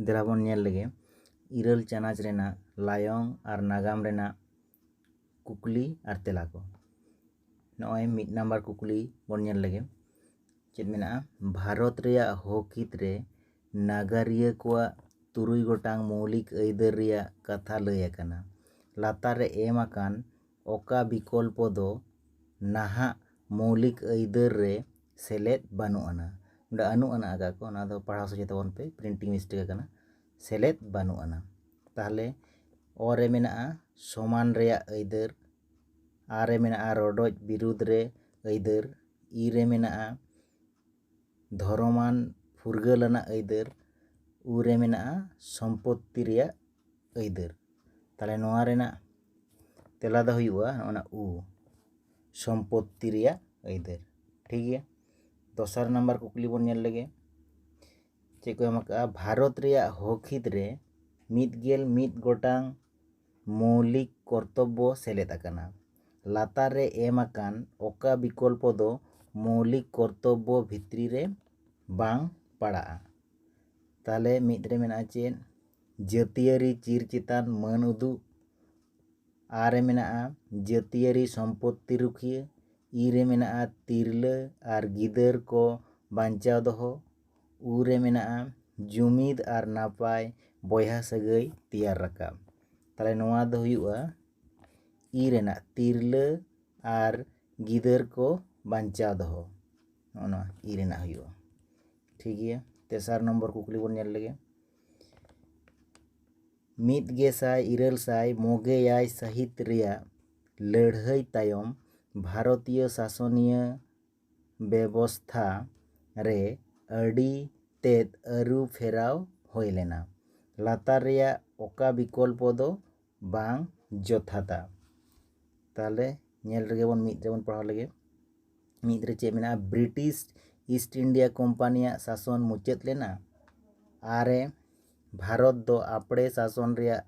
ᱫᱮᱞᱟ ᱵᱚᱱ ᱧᱮᱞ ᱞᱮᱜᱮ ᱤᱨᱟᱹᱞ ᱪᱟᱱᱟᱪ ᱨᱮᱱᱟᱜ ᱞᱟᱭᱚᱝ ᱟᱨ ᱱᱟᱜᱟᱢ ᱨᱮᱱᱟᱜ ᱠᱩᱠᱞᱤ ᱟᱨ ᱛᱮᱞᱟ ᱠᱚ ᱱᱚᱜᱼᱚᱭ ᱢᱤᱫ ᱱᱟᱢᱵᱟᱨ ᱠᱩᱠᱞᱤ ᱵᱚᱱ ᱧᱮᱞ ᱞᱮᱜᱮ ᱪᱮᱫ ᱢᱮᱱᱟᱜᱼᱟ ᱵᱷᱟᱨᱚᱛ ᱨᱮᱭᱟᱜ ᱦᱚᱠᱤᱛ ᱨᱮ ᱱᱟᱜᱟᱨᱤᱭᱟᱹ ᱠᱚᱣᱟᱜ ᱛᱩᱨᱩᱭ ᱜᱚᱴᱟᱝ ᱢᱳᱣᱞᱤᱠ ᱟᱹᱭᱫᱟᱹᱨ ᱨᱮᱭᱟᱜ ᱠᱟᱛᱷᱟ ᱞᱟᱹᱭ ᱟᱠᱟᱱᱟ ᱞᱟᱛᱟᱨ ᱨᱮ ᱮᱢ ᱟᱠᱟᱱ ᱚᱠᱟ ᱵᱤᱠᱚᱞᱯᱚ ᱫᱚ ᱱᱟᱦᱟᱜ ᱢᱚᱣᱞᱤᱠ ᱟᱹᱭᱫᱟᱹᱨ ᱨᱮ ᱥᱮᱞᱮᱫ ᱵᱟᱹᱱᱩᱜ ᱟᱱᱟ ᱚᱸᱰᱮ ᱟᱹᱱᱩᱜ ᱟᱱᱟ ᱟᱠᱟᱫ ᱟᱠᱚ ᱚᱱᱟ ᱫᱚ ᱯᱟᱲᱦᱟᱣ ᱥᱚᱡᱷᱮ ᱛᱟᱵᱚᱱ ᱯᱮ ᱯᱨᱤᱱᱴᱤᱝ ᱢᱤᱥᱴᱮᱠ ᱟᱠᱟᱱᱟ ᱥᱮᱞᱮᱫ ᱵᱟᱹᱱᱩᱜ ᱟᱱᱟ ᱛᱟᱦᱚᱞᱮ ᱚ ᱨᱮ ᱢᱮᱱᱟᱜᱼᱟ ᱥᱚᱢᱟᱱ ᱨᱮᱭᱟᱜ ᱟᱹᱭᱫᱟᱹᱨ ᱟ ᱨᱮ ᱢᱮᱱᱟᱜᱼᱟ ᱨᱚᱰᱚᱡ ᱵᱤᱨᱩᱫᱷ ᱨᱮ ᱟᱹᱭᱫᱟᱹᱨ ᱤ ᱨᱮ ᱢᱮᱱᱟᱜᱼᱟ ᱫᱷᱚᱨᱚᱢᱟᱱ ᱯᱷᱩᱨᱜᱟᱹᱞ ᱟᱱᱟᱜ ᱟᱹᱭᱫᱟᱹᱨ ᱩ ᱨᱮ ᱢᱮᱱᱟᱜᱼᱟ ᱥᱚᱢᱯᱚᱛᱛᱤ ᱨᱮᱭᱟᱜ ᱟᱹᱭᱫᱟᱹᱨ ᱛᱟᱦᱚᱞᱮ ᱱᱚᱣᱟ ᱨᱮᱱᱟᱜ ᱛᱮᱞᱟ ᱫᱚ ᱦᱩᱭᱩᱜᱼᱟ ᱚᱱᱟ ᱩ ᱥᱚᱢᱯᱚᱛᱛᱤ ᱨᱮᱭᱟᱜ ᱟᱹᱭᱫᱟᱹᱨ ᱴᱷᱤᱠ ᱜᱮᱭᱟ ᱫᱚᱥᱟᱨ ᱱᱟᱢᱵᱟᱨ ᱠᱩᱠᱞᱤ ᱵᱚᱱ ᱧᱮᱞ ᱞᱮᱜᱮ ᱪᱮᱫ ᱠᱚ ᱮᱢ ᱟᱠᱟᱜᱼᱟ ᱵᱷᱟᱨᱚᱛ ᱨᱮᱭᱟᱜ ᱦᱚᱠᱦᱤᱛ ᱨᱮ ᱢᱤᱫ ᱜᱮᱞ ᱢᱤᱫ ᱜᱚᱴᱟᱝ ᱢᱳᱣᱞᱤᱠ ᱠᱚᱨᱛᱚᱵᱵᱚ ᱥᱮᱞᱮᱫ ᱟᱠᱟᱱᱟ ᱞᱟᱛᱟᱨ ᱨᱮ ᱮᱢ ᱟᱠᱟᱱ ᱚᱠᱟ ᱵᱤᱠᱚᱞᱯᱚ ᱫᱚ ᱢᱳᱣᱞᱤᱠ ᱠᱚᱨᱛᱚᱵᱵᱚ ᱵᱷᱤᱛᱨᱤ ᱨᱮ ᱵᱟᱝ ᱯᱟᱲᱟᱜᱼᱟ ᱛᱟᱦᱚᱞᱮ ᱢᱤᱫ ᱨᱮ ᱢᱮᱱᱟᱜᱼᱟ ᱪᱮᱫ ᱡᱟᱹᱛᱤᱭᱟᱹᱨᱤ ᱪᱤᱨ ᱪᱮᱛᱟᱱ ᱢᱟᱹᱱ ᱩᱫᱩᱜ ᱟᱨ ᱨᱮ ᱢᱮᱱᱟᱜᱼᱟ ᱡᱟᱹᱛᱤᱭᱟᱹᱨᱤ ᱥᱚᱢᱯᱚᱛᱛᱤ ᱨᱩᱠᱷᱤᱭᱟᱹ ᱤ ᱨᱮ ᱢᱮᱱᱟᱜᱼᱟ ᱛᱤᱨᱞᱟᱹ ᱟᱨ ᱜᱤᱫᱟᱹᱨ ᱠᱚ ᱵᱟᱧᱪᱟᱣ ᱫᱚᱦᱚ ᱩ ᱨᱮ ᱢᱮᱱᱟᱜᱼᱟ ᱡᱩᱢᱤᱫ ᱟᱨ ᱱᱟᱯᱟᱭ ᱵᱚᱭᱦᱟ ᱥᱟᱹᱜᱟᱹᱭ ᱛᱮᱭᱟᱨ ᱨᱟᱠᱟᱵ ᱛᱟᱦᱚᱞᱮ ᱱᱚᱣᱟ ᱫᱚ ᱦᱩᱭᱩᱜᱼᱟ ᱤ ᱨᱮᱱᱟᱜ ᱛᱤᱨᱞᱟᱹ ᱟᱨ ᱜᱤᱫᱟᱹᱨ ᱠᱚ ᱵᱟᱧᱪᱟᱣ ᱫᱚᱦᱚ ᱱᱚᱜᱼᱚ ᱱᱚᱣᱟ ᱤ ᱨᱮᱱᱟᱜ ᱦᱩᱭᱩᱜᱼᱟ ᱴᱷᱤᱠ ᱜᱮᱭᱟ ᱛᱮᱥᱟᱨ ᱱᱚᱢᱵᱚᱨ ᱠᱩᱠᱞᱤ ᱵᱚᱱ ᱧᱮᱞ ᱞᱮᱜᱮ ᱢᱤᱫ ᱜᱮᱥᱟᱭ ᱤᱨᱟᱹᱞ ᱥᱟᱭ ᱢᱚᱜᱮ ᱮᱭᱟᱭ ᱥᱟᱹᱦᱤᱛ ᱨᱮᱭᱟᱜ ᱞᱟᱹᱲᱦᱟᱹᱭ ᱛᱟᱭᱚᱢ ᱵᱷᱟᱨᱚᱛᱤᱭᱚ ᱥᱟᱥᱚᱱᱤᱭᱟᱹ ᱵᱮᱵᱚᱥᱛᱷᱟ ᱨᱮ ᱟᱹᱰᱤ ᱛᱮᱫ ᱟᱹᱨᱩ ᱯᱷᱮᱨᱟᱣ ᱦᱩᱭ ᱞᱮᱱᱟ ᱞᱟᱛᱟᱨ ᱨᱮᱭᱟᱜ ᱚᱠᱟ ᱵᱤᱠᱚᱞᱯᱚ ᱫᱚ ᱵᱟᱝ ᱡᱚᱛᱷᱟᱛᱟ ᱛᱟᱦᱚᱞᱮ ᱧᱮᱞ ᱨᱮᱜᱮ ᱵᱚᱱ ᱢᱤᱫ ᱨᱮᱵᱚᱱ ᱯᱟᱲᱦᱟᱣ ᱞᱮᱜᱮ ᱢᱤᱫ ᱨᱮ ᱪᱮᱫ ᱢᱮᱱᱟᱜᱼᱟ ᱵᱨᱤᱴᱤᱥ ᱤᱥᱴ ᱤᱱᱰᱤᱭᱟ ᱠᱳᱢᱯᱟᱱᱤᱭᱟᱜ ᱥᱟᱥᱚᱱ ᱢᱩᱪᱟᱹᱫ ᱞᱮᱱᱟ ᱟᱨᱮ ᱵᱷᱟᱨᱚᱛ ᱫᱚ ᱟᱯᱲᱮ ᱥᱟᱥᱚᱱ ᱨᱮᱭᱟᱜ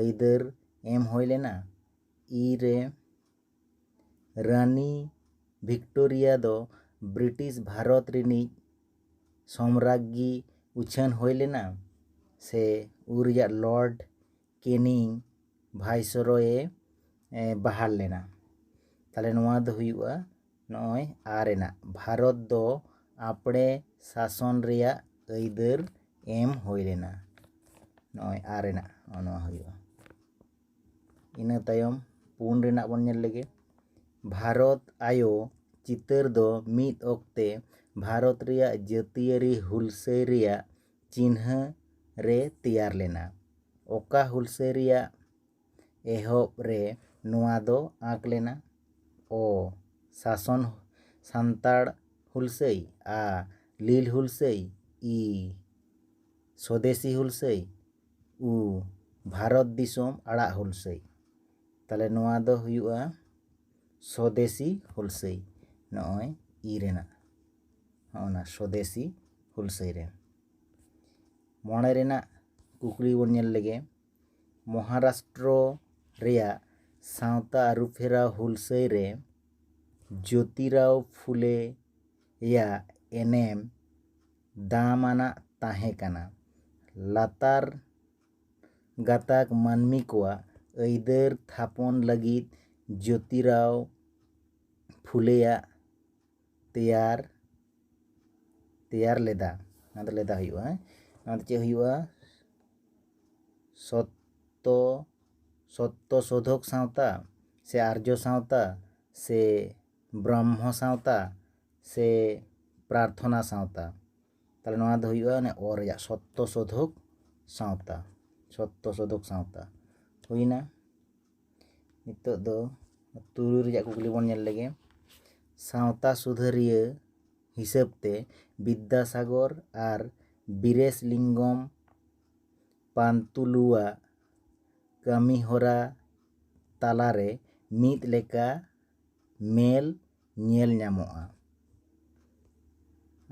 ᱟᱹᱭᱫᱟᱹᱨ ᱮᱢ ᱦᱩᱭ ᱞᱮᱱᱟ ᱤᱨᱮ ᱨᱟᱹᱱᱤ ᱵᱷᱤᱠᱴᱳᱨᱤᱭᱟ ᱫᱚ ᱵᱨᱤᱴᱤᱥ ᱵᱷᱟᱨᱚᱛ ᱨᱤᱱᱤᱡ ᱥᱚᱢᱨᱟᱜᱽᱜᱤ ᱩᱪᱷᱟᱹᱱ ᱦᱩᱭ ᱞᱮᱱᱟ ᱥᱮ ᱩᱱ ᱨᱮᱭᱟᱜ ᱞᱚᱨᱰ ᱠᱮᱱᱤᱝ ᱵᱷᱟᱭᱥᱚᱨᱚᱭᱮ ᱵᱟᱦᱟᱞ ᱞᱮᱱᱟ ᱛᱟᱦᱚᱞᱮ ᱱᱚᱣᱟ ᱫᱚ ᱦᱩᱭᱩᱜᱼᱟ ᱱᱚᱜᱼᱚᱭ ᱟ ᱨᱮᱱᱟᱜ ᱵᱷᱟᱨᱚᱛ ᱫᱚ ᱟᱯᱲᱮ ᱥᱟᱥᱚᱱ ᱨᱮᱭᱟᱜ ᱟᱹᱭᱫᱟᱹᱨ ᱮᱢ ᱦᱩᱭ ᱞᱮᱱᱟ ᱱᱚᱜᱼᱚᱭ ᱟ ᱨᱮᱱᱟᱜ ᱱᱚᱜᱼᱚ ᱱᱚᱣᱟ ᱦᱩᱭᱩᱜᱼᱟ ᱤᱱᱟᱹ ᱛᱟᱭᱚᱢ ᱯᱩᱱ ᱨᱮᱱᱟᱜ ᱵᱚᱱ ᱧᱮᱞ ᱞᱮᱜᱮ ᱵᱷᱟᱨᱚᱛ ᱟᱭᱳ ᱪᱤᱛᱟᱹᱨ ᱫᱚ ᱢᱤᱫ ᱚᱠᱛᱮ ᱵᱷᱟᱨᱚᱛ ᱨᱮᱭᱟᱜ ᱡᱟᱹᱛᱤᱭᱟᱹᱨᱤ ᱦᱩᱞᱥᱟᱹᱭ ᱨᱮᱭᱟᱜ ᱪᱤᱱᱦᱟᱹ ᱨᱮ ᱛᱮᱭᱟᱨ ᱞᱮᱱᱟ᱾ ᱚᱠᱟ ᱦᱩᱞᱥᱟᱹᱭ ᱨᱮᱭᱟᱜ ᱮᱦᱚᱵ ᱨᱮ ᱱᱚᱣᱟ ᱫᱚ ᱟᱸᱠ ᱞᱮᱱᱟ? ᱚ ᱥᱟᱥᱚᱱ ᱥᱟᱱᱛᱟᱲ ᱦᱩᱞᱥᱟᱹᱭ ᱟ ᱞᱤᱞ ᱦᱩᱞᱥᱟᱹᱭ ᱤ ᱥᱚᱫᱮᱥᱤ ᱦᱩᱞᱥᱟᱹᱭ ᱩ ᱵᱷᱟᱨᱚᱛ ᱫᱤᱥᱚᱢ ᱟᱲᱟᱜ ᱦᱩᱞᱥᱟᱹᱭ ᱛᱟᱦᱚᱞᱮ ᱱᱚᱣᱟ ᱫᱚ ᱦᱩᱭᱩᱜᱼᱟ ᱥᱚᱫᱮᱥᱤ ᱦᱩᱞᱥᱟᱹᱭ ᱱᱚᱜᱼᱚᱭ ᱤ ᱨᱮᱱᱟᱜ ᱦᱚᱸᱜᱼᱚ ᱱᱟ ᱥᱚᱫᱮᱥᱤ ᱦᱩᱞᱥᱟᱹᱭ ᱨᱮ ᱢᱚᱬᱮ ᱨᱮᱱᱟᱜ ᱠᱩᱠᱞᱤ ᱵᱚᱱ ᱧᱮᱞ ᱞᱮᱜᱮ ᱢᱚᱦᱟᱨᱟᱥᱴᱨᱚ ᱨᱮᱭᱟᱜ ᱥᱟᱶᱛᱟ ᱟᱹᱨᱩᱯᱷᱮᱨᱟᱣ ᱦᱩᱞᱥᱟᱹᱭ ᱨᱮ ᱡᱳᱛᱤᱨᱟᱣ ᱯᱷᱩᱞᱮ ᱭᱟᱜ ᱮᱱᱮᱢ ᱫᱟᱢᱟᱱᱟᱜ ᱛᱟᱦᱮᱸ ᱠᱟᱱᱟ ᱞᱟᱛᱟᱨ ᱜᱟᱛᱟᱠ ᱢᱟᱹᱱᱢᱤ ᱠᱚᱣᱟᱜ ᱟᱹᱭᱫᱟᱹᱨ ᱛᱷᱟᱯᱚᱱ ᱞᱟᱹᱜᱤᱫ ᱡᱳᱛᱤᱨᱟᱣ ᱯᱷᱩᱞᱮᱭᱟᱜ ᱛᱮᱭᱟᱨ ᱛᱮᱭᱟᱨ ᱞᱮᱫᱟ ᱱᱚᱣᱟ ᱫᱚ ᱞᱮᱫᱟ ᱦᱩᱭᱩᱜᱼᱟ ᱦᱮᱸ ᱱᱚᱣᱟ ᱫᱚ ᱪᱮᱫ ᱦᱩᱭᱩᱜᱼᱟ ᱥᱚᱛᱛᱚ ᱥᱚᱛᱛᱚ ᱥᱳᱫᱷᱚᱠ ᱥᱟᱶᱛᱟ ᱥᱮ ᱟᱨᱡᱚ ᱥᱟᱶᱛᱟ ᱥᱮ ᱵᱨᱟᱦᱢᱚ ᱥᱟᱶᱛᱟ ᱥᱮ ᱯᱨᱟᱨᱛᱷᱚᱱᱟ ᱥᱟᱶᱛᱟ ᱛᱟᱦᱚᱞᱮ ᱱᱚᱣᱟ ᱫᱚ ᱦᱩᱭᱩᱜᱼᱟ ᱚᱱᱮ ᱚ ᱨᱮᱭᱟᱜ ᱥᱚᱛᱛᱚ ᱥᱳᱫᱷᱚᱠ ᱥᱟᱶᱛᱟ ᱥᱚᱛᱛᱚ ᱥᱳᱫᱷᱚᱠ ᱥᱟᱶᱛᱟ ᱦᱩᱭᱱᱟ ᱱᱤᱛᱚᱜ ᱫᱚ ᱛᱩᱨᱩᱭ ᱨᱮᱭᱟᱜ ᱠᱩᱠᱞᱤ ᱵᱚᱱ ᱧᱮᱞ ᱞᱮᱜᱮ ᱥᱟᱶᱛᱟ ᱥᱩᱫᱷᱟᱹᱨᱤᱭᱟᱹ ᱦᱤᱥᱟᱹᱵ ᱛᱮ ᱵᱤᱫᱽᱫᱟᱥᱟᱜᱚᱨ ᱟᱨ ᱵᱤᱨᱮᱥ ᱞᱤᱝᱜᱚᱢ ᱯᱟᱱᱛᱩᱞᱩᱣᱟᱜ ᱠᱟᱹᱢᱤ ᱦᱚᱨᱟ ᱛᱟᱞᱟᱨᱮ ᱢᱤᱫ ᱞᱮᱠᱟ ᱢᱮᱞ ᱧᱮᱞ ᱧᱟᱢᱚᱜᱼᱟ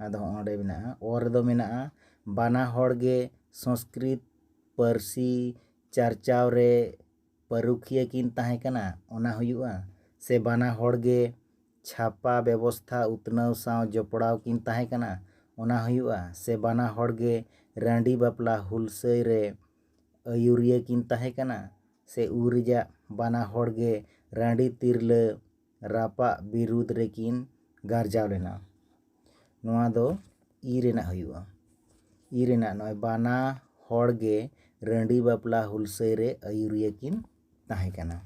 ᱟᱫᱚ ᱦᱚᱸᱜᱼᱚ ᱱᱚᱸᱰᱮ ᱢᱮᱱᱟᱜᱼᱟ ᱚ ᱨᱮᱫᱚ ᱢᱮᱱᱟᱜᱼᱟ ᱵᱟᱱᱟ ᱦᱚᱲ ᱜᱮ ᱥᱚᱝᱥᱠᱨᱤᱛ ᱯᱟᱹᱨᱥᱤ ᱪᱟᱨᱪᱟᱣ ᱨᱮ ᱯᱟᱹᱨᱩᱠᱷᱤᱭᱟᱹ ᱠᱤᱱ ᱛᱟᱦᱮᱸ ᱠᱟᱱᱟ ᱚᱱᱟ ᱦᱩᱭᱩᱜᱼᱟ ᱥᱮ ᱵᱟᱱᱟ ᱦᱚᱲ ᱜᱮ ᱪᱷᱟᱯᱟ ᱵᱮᱵᱚᱥᱛᱷᱟ ᱩᱛᱱᱟᱹᱣ ᱥᱟᱶ ᱡᱚᱯᱲᱟᱣ ᱠᱤᱱ ᱛᱟᱦᱮᱸ ᱠᱟᱱᱟ ᱚᱱᱟ ᱦᱩᱭᱩᱜᱼᱟ ᱥᱮ ᱵᱟᱱᱟ ᱦᱚᱲ ᱜᱮ ᱨᱟᱺᱰᱤ ᱵᱟᱯᱞᱟ ᱦᱩᱞᱥᱟᱹᱭ ᱨᱮ ᱟᱹᱭᱩᱨᱤᱭᱟᱹ ᱠᱤᱱ ᱛᱟᱦᱮᱸ ᱠᱟᱱᱟ ᱥᱮ ᱩᱱ ᱨᱮᱭᱟᱜ ᱵᱟᱱᱟ ᱦᱚᱲ ᱜᱮ ᱨᱟᱺᱰᱤ ᱛᱤᱨᱞᱟᱹ ᱨᱟᱯᱟᱜ ᱵᱤᱨᱩᱫᱽ ᱨᱮᱠᱤᱱ ᱜᱟᱨᱡᱟᱣ ᱞᱮᱱᱟ ᱱᱚᱣᱟ ᱫᱚ ᱤ ᱨᱮᱱᱟᱜ ᱦᱩᱭᱩᱜᱼᱟ ᱤ ᱨᱮᱱᱟᱜ ᱱᱚᱜᱼᱚᱭ ᱵᱟᱱᱟ ᱦᱚᱲ ᱜᱮ ᱨᱟᱺᱰᱤ ᱵᱟᱯᱞᱟ ᱦᱩᱞᱥᱟᱹᱭ ᱨᱮ ᱟᱹᱭᱩᱨᱤᱭᱟᱹ ᱠᱤᱱ ᱛᱟᱦᱮᱸ ᱠᱟᱱᱟ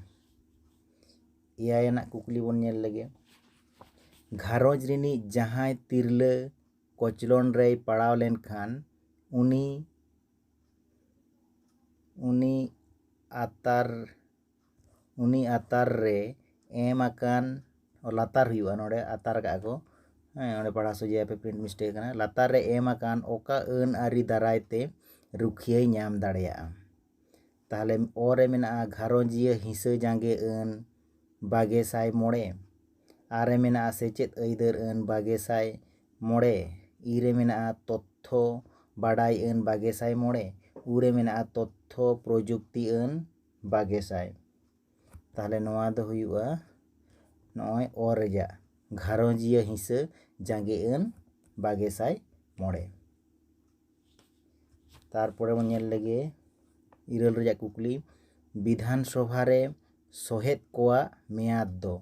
ᱮᱭᱟᱭ ᱟᱱᱟᱜ ᱠᱩᱠᱞᱤ ᱵᱚᱱ ᱧᱮᱞ ᱞᱮᱜᱮ ᱜᱷᱟᱨᱚᱸᱡᱽ ᱨᱤᱱᱤᱡ ᱡᱟᱦᱟᱸᱭ ᱛᱤᱨᱞᱟᱹ ᱠᱚᱪᱞᱚᱱ ᱨᱮᱭ ᱯᱟᱲᱟᱣ ᱞᱮᱱᱠᱷᱟᱱ ᱩᱱᱤ ᱩᱱᱤ ᱟᱛᱟᱨ ᱩᱱᱤ ᱟᱛᱟᱨ ᱨᱮ ᱮᱢ ᱟᱠᱟᱱ ᱞᱟᱛᱟᱨ ᱦᱩᱭᱩᱜᱼᱟ ᱱᱚᱸᱰᱮ ᱟᱛᱟᱨ ᱠᱟᱜᱼᱟ ᱠᱚ ᱦᱮᱸ ᱚᱸᱰᱮ ᱯᱟᱲᱦᱟᱣ ᱥᱚᱡᱷᱮᱭᱟ ᱯᱮ ᱯᱨᱤᱱᱴ ᱢᱤᱥᱴᱮᱠ ᱠᱟᱱᱟ ᱞᱟᱛᱟᱨ ᱨᱮ ᱮᱢ ᱟᱠᱟᱱ ᱚᱠᱟ ᱟᱹᱱ ᱟᱹᱨᱤ ᱫᱟᱨᱟᱭ ᱛᱮ ᱨᱩᱠᱷᱤᱭᱟᱹᱭ ᱧᱟᱢ ᱫᱟᱲᱮᱭᱟᱜᱼᱟ ᱛᱟᱦᱚᱞᱮ ᱚ ᱨᱮ ᱢᱮᱱᱟᱜᱼᱟ ᱜᱷᱟᱨᱚᱸᱡᱤᱭᱟᱹ ᱦᱤᱸᱥᱟᱹ ᱡᱟᱸᱜᱮ ᱟᱹᱱ ᱵᱟᱜᱮ ᱥᱟᱭ ᱢᱚᱬᱮ ᱟᱨ ᱨᱮ ᱢᱮᱱᱟᱜᱼᱟ ᱥᱮᱪᱮᱫ ᱟᱹᱭᱫᱟᱹᱨ ᱟᱹᱱ ᱵᱟᱜᱮ ᱥᱟᱭ ᱢᱚᱬᱮ ᱤ ᱨᱮ ᱢᱮᱱᱟᱜᱼᱟ ᱛᱚᱛᱛᱷᱚ ᱵᱟᱰᱟᱭ ᱟᱹᱱ ᱵᱟᱜᱮ ᱥᱟᱭ ᱢᱚᱬᱮ ᱩ ᱨᱮ ᱢᱮᱱᱟᱜᱼᱟ ᱛᱚᱛᱛᱷᱚ ᱯᱨᱚᱡᱩᱠᱛᱤ ᱟᱹᱱ ᱵᱟᱜᱮ ᱥᱟᱭ ᱛᱟᱦᱚᱞᱮ ᱱᱚᱣᱟ ᱫᱚ ᱦᱩᱭᱩᱜᱼᱟ ᱱᱚᱜᱼᱚᱭ ᱚ ᱨᱮᱭᱟᱜ ᱜᱷᱟᱨᱚᱸᱡᱤᱭᱟᱹ ᱦᱤᱸᱥᱟᱹ ᱡᱟᱸᱜᱮ ᱟᱹᱱ ᱵᱟᱜᱮ ᱥᱟᱭ ᱢᱚᱬᱮ ᱛᱟᱨᱯᱚᱨᱮ ᱵᱚᱱ ᱧᱮᱞ ᱞᱮᱜᱮ ᱤᱨᱟᱹᱞ ᱨᱮᱭᱟᱜ ᱠᱩᱠᱞᱤ ᱵᱤᱫᱷᱟᱱ ᱥᱚᱵᱷᱟ ᱨᱮ ᱥᱚᱦᱮᱫ ᱠᱚᱣᱟᱜ ᱢᱮᱭᱟᱫ ᱫᱚ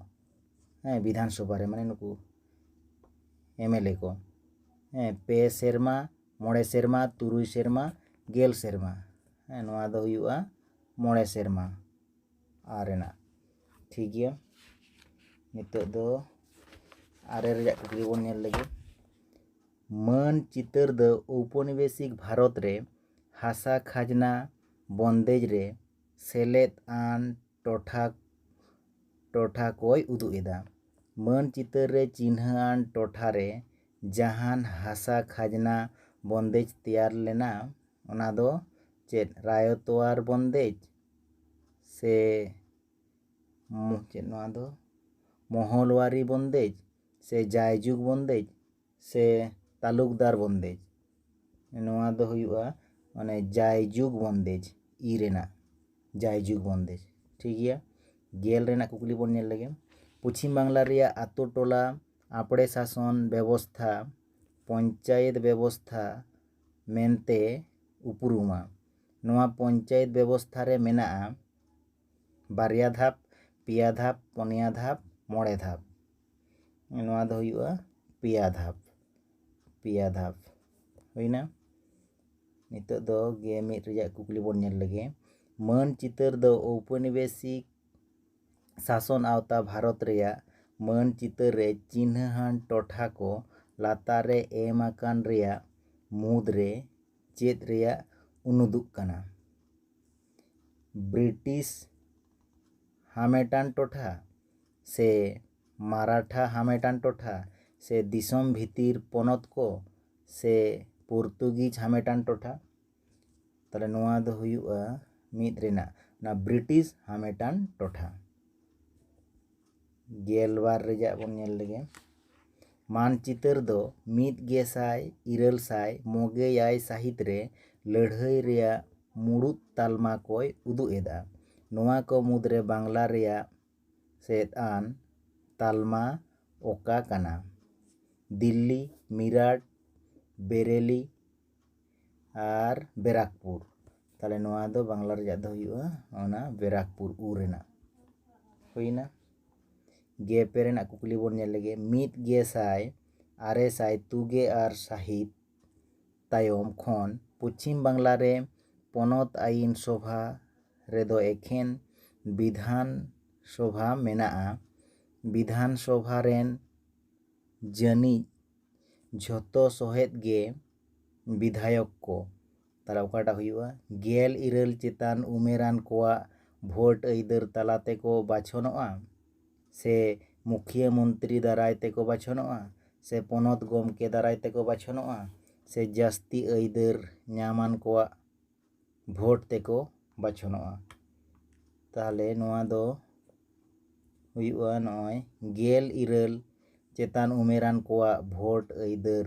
ᱦᱮᱸ ᱵᱤᱫᱷᱟᱱ ᱥᱚᱵᱷᱟ ᱨᱮ ᱢᱟᱱᱮ ᱱᱩᱠᱩ ᱮᱢᱮᱞᱮ ᱠᱚ ᱦᱮᱸ ᱯᱮ ᱥᱮᱨᱢᱟ ᱢᱚᱬᱮ ᱥᱮᱨᱢᱟ ᱛᱩᱨᱩᱭ ᱥᱮᱨᱢᱟ ᱜᱮᱞ ᱥᱮᱨᱢᱟ ᱦᱮᱸ ᱱᱚᱣᱟ ᱫᱚ ᱦᱩᱭᱩᱜᱼᱟ ᱢᱚᱬᱮ ᱥᱮᱨᱢᱟ ᱟᱨ ᱨᱮᱱᱟᱜ ᱴᱷᱤᱠ ᱜᱮᱭᱟ ᱱᱤᱛᱚᱜ ᱫᱚ ᱟᱨᱮ ᱨᱮᱭᱟᱜ ᱠᱩᱠᱞᱤ ᱵᱚᱱ ᱧᱮᱞ ᱞᱮᱜᱮ ᱢᱟᱹᱱ ᱪᱤᱛᱟᱹᱨ ᱫᱚ ᱳᱣᱯᱚᱱᱤᱵᱮᱥᱤᱠ ᱵᱷᱟᱨᱚᱛ ᱨᱮ ᱦᱟᱥᱟ ᱠᱷᱟᱡᱽᱱᱟ ᱵᱚᱱᱫᱮᱡᱽ ᱨᱮ ᱥᱮᱞᱮᱫ ᱟᱱ ᱴᱚᱴᱷᱟ ᱴᱚᱴᱷᱟ ᱠᱚᱭ ᱩᱫᱩᱜ ᱮᱫᱟ ᱢᱟᱹᱱ ᱪᱤᱛᱟᱹᱨ ᱨᱮ ᱪᱤᱱᱦᱟᱹ ᱟᱱ ᱴᱚᱴᱷᱟ ᱨᱮ ᱡᱟᱦᱟᱱ ᱦᱟᱥᱟ ᱠᱷᱟᱡᱽᱱᱟ ᱵᱚᱱᱫᱮᱡᱽ ᱛᱮᱭᱟᱨ ᱞᱮᱱᱟ ᱚᱱᱟ ᱫᱚ ᱪᱮᱫ ᱨᱟᱭᱚᱛᱣᱟᱨ ᱵᱚᱱᱫᱮᱡᱽ ᱥᱮ ᱪᱮᱫ ᱱᱚᱣᱟ ᱫᱚ ᱢᱚᱦᱚᱞᱣᱟᱨᱤ ᱵᱚᱱᱫᱮᱡᱽ ᱥᱮ ᱡᱟᱭᱡᱩᱜᱽ ᱵᱚᱱᱫᱮᱡᱽ ᱥᱮ ᱛᱟᱞᱩᱠᱫᱟᱨ ᱵᱚᱱᱫᱮᱡᱽ ᱱᱚᱣᱟ ᱫᱚ ᱦᱩᱭᱩᱜᱼᱟ ᱢᱟᱱᱮ ᱡᱟᱭᱡᱩᱜᱽ ᱵᱚᱱᱫᱮᱡᱽ ᱤ ᱨᱮᱱᱟᱜ ᱡᱟᱭᱡᱩᱜᱽ ᱵᱚᱱᱫᱮᱡᱽ ᱴᱷᱤᱠ ᱜᱮᱭᱟ ᱜᱮᱞ ᱨᱮᱱᱟᱜ ᱠᱩᱠᱞᱤ ᱵᱚᱱ ᱧᱮᱞ ᱞᱮᱜᱮ ᱯᱚᱪᱷᱤᱢ ᱵᱟᱝᱞᱟ ᱨᱮᱭᱟᱜ ᱟᱛᱳ ᱴᱚᱞᱟ ᱟᱯᱲᱮ ᱥᱟᱥᱚᱱ ᱵᱮᱵᱚᱥᱛᱷᱟ ᱯᱚᱧᱪᱟᱭᱮᱛ ᱵᱮᱵᱚᱥᱛᱷᱟ ᱢᱮᱱᱛᱮ ᱩᱯᱨᱩᱢᱟ ᱱᱚᱣᱟ ᱯᱚᱧᱪᱟᱭᱮᱛ ᱵᱮᱵᱚᱥᱛᱷᱟ ᱨᱮ ᱢᱮᱱᱟᱜᱼᱟ ᱵᱟᱨᱭᱟ ᱫᱷᱟᱯ ᱯᱮᱭᱟ ᱫᱷᱟᱯ ᱯᱩᱱᱭᱟ ᱫᱷᱟᱯ ᱢᱚᱬᱮ ᱫᱷᱟᱯ ᱱᱚᱣᱟ ᱫᱚ ᱦᱩᱭᱩᱜᱼᱟ ᱯᱮᱭᱟ ᱫᱷᱟᱯ ᱯᱮᱭᱟ ᱫᱷᱟᱯ ᱦᱩᱭᱱᱟ ᱱᱤᱛᱚᱜ ᱫᱚ ᱜᱮ ᱢᱤᱫ ᱨᱮᱭᱟᱜ ᱠᱩᱠᱞᱤ ᱵᱚᱱ ᱧᱮᱞ ᱞᱮᱜᱮ ᱢᱟᱹᱱ ᱪᱤᱛᱟᱹᱨ ᱫᱚ ᱳᱣᱯᱚᱱᱤᱵᱮᱥᱤᱠ ᱥᱟᱥᱚᱱ ᱟᱣᱛᱟ ᱵᱷᱟᱨᱚᱛ ᱨᱮᱭᱟᱜ ᱢᱟᱹᱱ ᱪᱤᱛᱟᱹᱨ ᱨᱮ ᱪᱤᱱᱦᱟᱹᱣᱟᱱ ᱴᱚᱴᱷᱟ ᱠᱚ ᱞᱟᱛᱟᱨ ᱨᱮ ᱮᱢ ᱟᱠᱟᱱ ᱨᱮᱭᱟᱜ ᱢᱩᱫᱽᱨᱮ ᱪᱮᱫ ᱨᱮᱭᱟᱜ ᱩᱱᱩᱫᱩᱜ ᱠᱟᱱᱟ ᱵᱨᱤᱴᱤᱥ ᱦᱟᱢᱮᱴᱟᱱ ᱴᱚᱴᱷᱟ ᱥᱮ ᱢᱟᱨᱟᱴᱷᱟ ᱦᱟᱢᱮᱴᱟᱱ ᱴᱚᱴᱷᱟ ᱥᱮ ᱫᱤᱥᱚᱢ ᱵᱷᱤᱛᱤᱨ ᱯᱚᱱᱚᱛ ᱠᱚ ᱥᱮ ᱯᱩᱨᱛᱩᱜᱤᱡᱽ ᱦᱟᱢᱮᱴᱟᱱ ᱴᱚᱴᱷᱟ ᱛᱟᱦᱚᱞᱮ ᱱᱚᱣᱟ ᱫᱚ ᱦᱩᱭᱩᱜᱼᱟ ᱢᱤᱫ ᱨᱮᱱᱟᱜ ᱚᱱᱟ ᱵᱨᱤᱴᱤᱥ ᱦᱟᱢᱮᱴᱟᱱ ᱴᱚᱴᱷᱟ ᱜᱮᱞᱵᱟᱨ ᱨᱮᱭᱟᱜ ᱵᱚᱱ ᱧᱮᱞ ᱞᱮᱜᱮ ᱢᱟᱱᱪᱤᱛᱟᱹᱨ ᱫᱚ ᱢᱤᱫ ᱜᱮᱥᱟᱭ ᱤᱨᱟᱹᱞ ᱥᱟᱭ ᱢᱚᱜᱮ ᱮᱭᱟᱭ ᱥᱟᱹᱦᱤᱛ ᱨᱮ ᱞᱟᱹᱲᱦᱟᱹᱭ ᱨᱮᱭᱟᱜ ᱢᱩᱬᱩᱛ ᱛᱟᱞᱢᱟ ᱠᱚᱭ ᱩᱫᱩᱜ ᱮᱫᱟ ᱱᱚᱣᱟ ᱠᱚ ᱢᱩᱫᱽᱨᱮ ᱵᱟᱝᱞᱟ ᱨᱮᱭᱟᱜ ᱥᱮᱫ ᱟᱱ ᱛᱟᱞᱢᱟ ᱚᱠᱟ ᱠᱟᱱᱟ ᱫᱤᱞᱞᱤ ᱢᱤᱨᱟᱴ ᱵᱮᱨᱮᱞᱤ ᱟᱨ ᱵᱮᱨᱟᱠᱯᱩᱨ ᱛᱟᱦᱚᱞᱮ ᱱᱚᱣᱟ ᱫᱚ ᱵᱟᱝᱞᱟ ᱨᱮᱭᱟᱜ ᱫᱚ ᱦᱩᱭᱩᱜᱼᱟ ᱚᱱᱟ ᱵᱮᱨᱟᱠᱯᱩᱨ ᱩ ᱨᱮᱱᱟᱜ ᱦᱩᱭᱱᱟ ᱜᱮ ᱯᱮ ᱨᱮᱱᱟᱜ ᱠᱩᱠᱞᱤ ᱵᱚᱱ ᱧᱮᱞ ᱞᱮᱜᱮ ᱢᱤᱫ ᱜᱮ ᱥᱟᱭ ᱟᱨᱮ ᱥᱟᱭ ᱛᱩᱜᱮ ᱟᱨ ᱥᱟᱹᱦᱤᱛ ᱛᱟᱭᱚᱢ ᱠᱷᱚᱱ ᱯᱚᱪᱷᱤᱢ ᱵᱟᱝᱞᱟ ᱨᱮ ᱯᱚᱱᱚᱛ ᱟᱹᱭᱤᱱ ᱥᱚᱵᱷᱟ ᱨᱮᱫᱚ ᱮᱠᱷᱮᱱ ᱵᱤᱫᱷᱟᱱ ᱥᱚᱵᱷᱟ ᱢᱮᱱᱟᱜᱼᱟ ᱵᱤᱫᱷᱟᱱ ᱥᱚᱵᱷᱟ ᱨᱮᱱ ᱡᱟᱹᱱᱤᱡ ᱡᱷᱚᱛᱚ ᱥᱚᱦᱮᱫ ᱜᱮ ᱵᱤᱫᱷᱟᱭᱚᱠ ᱠᱚ ᱛᱟᱦᱚᱞᱮ ᱚᱠᱟᱴᱟᱜ ᱦᱩᱭᱩᱜᱼᱟ ᱜᱮᱞ ᱤᱨᱟᱹᱞ ᱪᱮᱛᱟᱱ ᱩᱢᱮᱨᱟᱱ ᱠᱚᱣᱟᱜ ᱵᱷᱳᱴ ᱟᱹᱭᱫᱟᱹᱨ ᱛᱟᱞᱟ ᱛᱮᱠᱚ ᱵᱟᱪᱷᱚᱱᱚᱜᱼᱟ ᱥᱮ ᱢᱩᱠᱷᱤᱭᱟᱹ ᱢᱚᱱᱛᱨᱤ ᱫᱟᱨᱟᱭ ᱛᱮᱠᱚ ᱵᱟᱪᱷᱚᱱᱚᱜᱼᱟ ᱥᱮ ᱯᱚᱱᱚᱛ ᱜᱚᱢᱠᱮ ᱫᱟᱨᱟᱭ ᱛᱮᱠᱚ ᱵᱟᱪᱷᱚᱱᱚᱜᱼᱟ ᱥᱮ ᱡᱟᱹᱥᱛᱤ ᱟᱹᱭᱫᱟᱹᱨ ᱧᱟᱢᱟᱱ ᱠᱚᱣᱟᱜ ᱵᱷᱳᱴ ᱛᱮᱠᱚ ᱵᱟᱪᱷᱚᱱᱚᱜᱼᱟ ᱛᱟᱦᱚᱞᱮ ᱱᱚᱣᱟ ᱫᱚ ᱦᱩᱭᱩᱜᱼᱟ ᱱᱚᱜᱼᱚᱭ ᱜᱮᱞ ᱤᱨᱟᱹᱞ ᱪᱮᱛᱟᱱ ᱩᱢᱮᱨᱟᱱ ᱠᱚᱣᱟᱜ ᱵᱷᱳᱴ ᱟᱹᱭᱫᱟᱹᱨ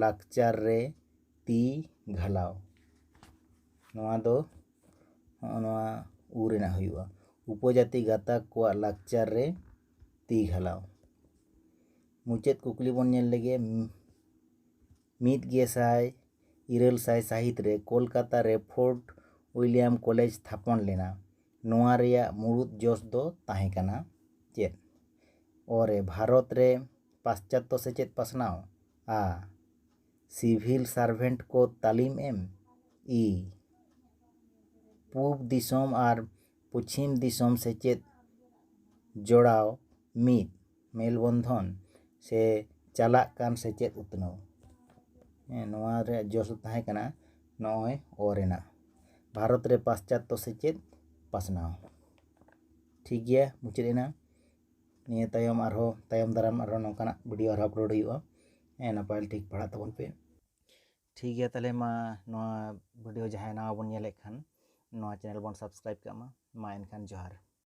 ᱞᱟᱠᱪᱟᱨ ᱨᱮ ᱛᱤ ᱜᱷᱟᱞᱟᱣ ᱱᱚᱣᱟ ᱫᱚ ᱱᱚᱜᱼᱚ ᱱᱚᱣᱟ ᱩ ᱨᱮᱱᱟᱜ ᱦᱩᱭᱩᱜᱼᱟ ᱩᱯᱚᱡᱟᱹᱛᱤ ᱜᱟᱛᱟᱠ ᱠᱚᱣᱟᱜ ᱞᱟᱠᱪᱟᱨ ᱨᱮ ᱛᱤ ᱜᱷᱟᱞᱟᱣ ᱢᱩᱪᱟᱹᱫ ᱠᱩᱠᱞᱤ ᱵᱚᱱ ᱧᱮᱞ ᱞᱮᱜᱮ ᱢᱤᱫ ᱜᱮᱥᱟᱭ ᱤᱨᱟᱹᱞ ᱥᱟᱭ ᱥᱟᱹᱦᱤᱛ ᱨᱮ ᱠᱳᱞᱠᱟᱛᱟ ᱨᱮ ᱯᱷᱳᱨᱴ ᱩᱭᱞᱤᱭᱟᱢ ᱠᱚᱞᱮᱡᱽ ᱛᱷᱟᱯᱚᱱ ᱞᱮᱱᱟ ᱱᱚᱣᱟ ᱨᱮᱭᱟᱜ ᱢᱩᱬᱩᱫ ᱡᱚᱥ ᱫᱚ ᱛᱟᱦᱮᱸ ᱠᱟᱱᱟ ᱪᱮᱫ ᱚ ᱨᱮ ᱵᱷᱟᱨᱚᱛ ᱨᱮ ᱯᱟᱥᱪᱟᱛᱛᱚ ᱥᱮᱪᱮᱫ ᱯᱟᱥᱱᱟᱣ ᱟ ᱥᱤᱵᱷᱤᱞ ᱥᱟᱨᱵᱷᱮᱱᱴ ᱠᱚ ᱛᱟᱹᱞᱤᱢ ᱮᱢ ᱤ ᱯᱩᱵ ᱫᱤᱥᱚᱢ ᱟᱨ ᱯᱚᱪᱷᱤᱢ ᱫᱤᱥᱚᱢ ᱥᱮᱪᱮᱫ ᱡᱚᱲᱟᱣ ᱢᱤᱫ ᱢᱮᱞ ᱵᱚᱱᱫᱷᱚᱱ ᱥᱮ ᱪᱟᱞᱟᱜ ᱠᱟᱱ ᱥᱮᱪᱮᱫ ᱩᱛᱱᱟᱹᱣ ᱦᱮᱸ ᱱᱚᱣᱟ ᱨᱮᱭᱟᱜ ᱡᱚᱥ ᱫᱚ ᱛᱟᱦᱮᱸ ᱠᱟᱱᱟ ᱱᱚᱜᱼᱚᱭ ᱚ ᱨᱮᱱᱟᱜ ᱵᱷᱟᱨᱚᱛ ᱨᱮ ᱯᱟᱥᱪᱟᱛᱛᱚ ᱥᱮᱪᱮᱫ ᱯᱟᱥᱱᱟᱣ ᱴᱷᱤᱠ ᱜᱮᱭᱟ ᱢᱩᱪᱟᱹᱫ ᱮᱱᱟ ᱱᱤᱭᱟᱹ ᱛᱟᱭᱚᱢ ᱟᱨᱦᱚᱸ ᱛᱟᱭᱚᱢ ᱫᱟᱨᱟᱢ ᱟᱨᱦᱚᱸ ᱱᱚᱝᱠᱟᱱᱟᱜ ᱵᱷᱤᱰᱤᱭᱳ ᱟᱨᱦᱚᱸ ᱟᱯᱞᱳᱰ ᱦᱩᱭᱩᱜᱼᱟ ᱦᱮᱸ ᱱᱟᱯᱟᱭ ᱴᱷᱤᱠ ᱯᱟᱲᱦᱟᱜ ᱛᱟᱵᱚᱱ ᱯᱮ ᱴᱷᱤᱠ ᱜᱮᱭᱟ ᱛᱟᱦᱞᱮ ᱢᱟ ᱱᱚᱣᱟ ᱵᱷᱤᱰᱤᱭᱳ ᱡᱟᱦᱟᱸᱭ ᱱᱟᱣᱟ ᱵᱚᱱ ᱧᱮᱞᱮᱫ ᱠᱷᱟᱱ ᱱᱚᱣᱟ ᱪᱮᱱᱮᱞ ᱵᱚᱱ ᱥᱟᱵᱥᱠᱨᱟᱭᱤᱵᱽ ᱠᱟᱜ ᱢᱟ ᱢᱟ ᱮᱱᱠᱷᱟᱱ ᱡᱚᱦᱟᱨ